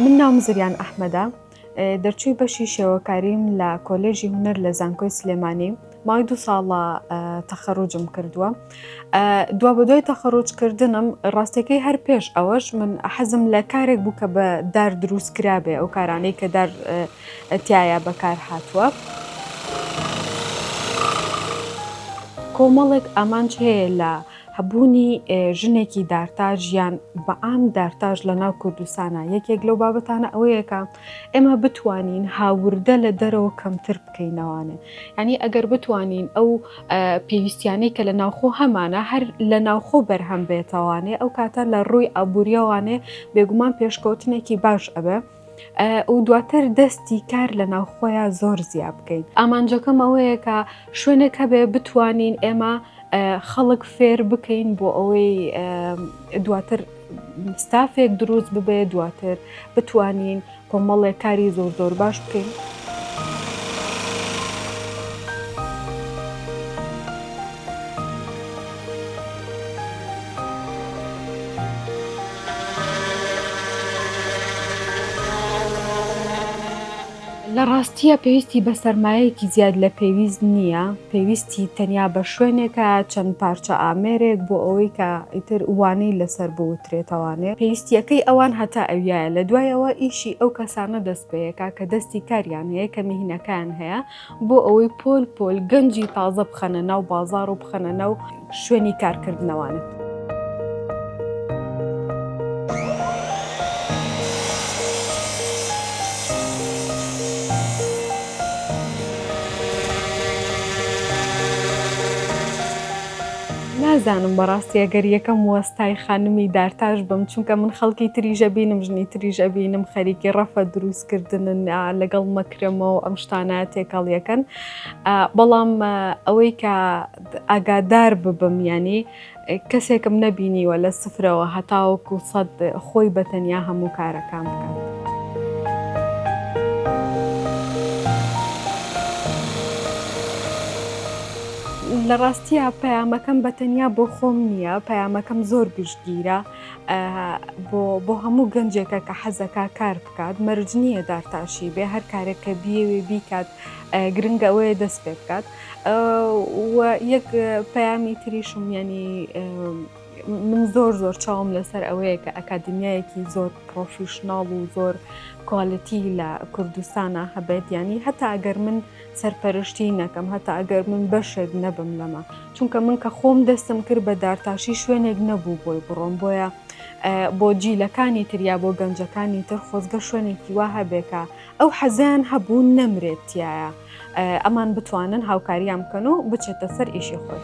من ناوم زریان ئەحمەدە دەرچووی بەشی شێوەکاریم لە کۆلێژی هونەر لە زانکۆی سلێمانی ماوەی دوو ساڵە تەخەڕوجم کردووە دوا بە دوای تەخەڕۆجکردنم ڕاستەکەی هەر پێش ئەوەش من حەزم لە کارێک بوو کە بە دار دروست کرابێ ئەو کارانەی کە دار تایە بەکار هاتووە. کۆمەڵێک ئامانج هەیە لە هەبوونی ژنێکی دارتاژ یان بەعام دارتاژ لە ناو کوردستانە یەکێک لەو بابەتانە ئەوەیەکە ئێمە بتوانین هاوردە لە دەرەوە کەمتر بکەینەوانێ ینی ئەگەر بتوانین ئەو پێویستیانەی کە لە ناوخۆ هەمانە هەر لە ناوخۆ بەرهەم بێتەوانێ ئەو کاتە لە ڕووی ئابوووریەوانێ بێگومان پێشکەوتنێکی باش ئەبێ. ئەو دواتر دەستی کار لە ناوخۆیە زۆر زیاب بکەین ئامانجەکەم ئەوەیە کە شوێنێک هەبێ بتوانین ئێمە خەڵک فێر بکەین بۆ ئەوەی دواتر ستافێک دروست ببێت دواتر بتوانین کۆمەڵێک کاری زۆر زۆر باش بکەین. لە ڕاستییا پێویستی بە سەرمایەیەکی زیاد لە پێویست نییە، پێویستی تەنیا بە شوێنێکە، چەند پارچە ئامێرێک بۆ ئەوەی کە ئیتر وانەی لەسەر بوترێتەوانێ. پێویستییەکەی ئەوان هەتا ئەویایە، لە دوایەوە ئیشی ئەو کەسانە دەست پێیەکا کە دەستی کاریان هەیە، کە میهنەکەیان هەیە، بۆ ئەوەی پۆل پۆل گەنجی تازە بخەنە ناو بازار و بخەنە ناو شوێنی کارکردنەوانن. نازانم بەڕاستی ئەگەر یەکەم وەستای خانمی دارتاش بم چونکە من خەڵکی تریژە بینم ژنی تریژە بینم خەریکی ڕەفە دروست کردنن لەگەڵ مەکرەمە و ئەم شتانە تێکەڵیەکەن بەڵام ئەوەی کە ئاگادار ببم ینی کەسێکم نەبینیوە لە سفرەوە هەتاوەکو سەد خۆی بەتەنیا هەموو کارەکان بکات. لە ڕاستیە پەیامەکەم بەتەنیا بۆ خۆم نییە پەیامەکەم زۆر گشتگیرە. بۆ هەموو گەنجێکە کە حەزەکە کار بکات مەرج نییە دارتاشی بێ هەر کارێک کە بیەوێ بیکات گرنگە ئەوەیە دەست پێ بکات یەک پەیامی تریشم ینی من زۆر زۆر چاوم لەسەر ئەوەیە کە ئەکادمیایەکی زۆر پرۆفیشنناڵ و زۆر کوالەتی لە کوردستانە هەبێت ینی هەتا ئەگەر من سەرپەرشتی نەکەم هەتا ئەگەر من بەشێک نەبم لەمە چونکە من کە خۆم دەستم کرد بە دارتاشی شوێنێک نەبوو بۆی بڕۆم بۆیە بۆ جیلەکانی تریا بۆ گەنجەکانی تر خۆزگە شوێنێکی وا هەبێکە ئەو حەزیان هەبوو نەمرێتیایە ئەمان بتوانن هاوکاریان بکەن و بچێتە سەر ئیشی خۆی.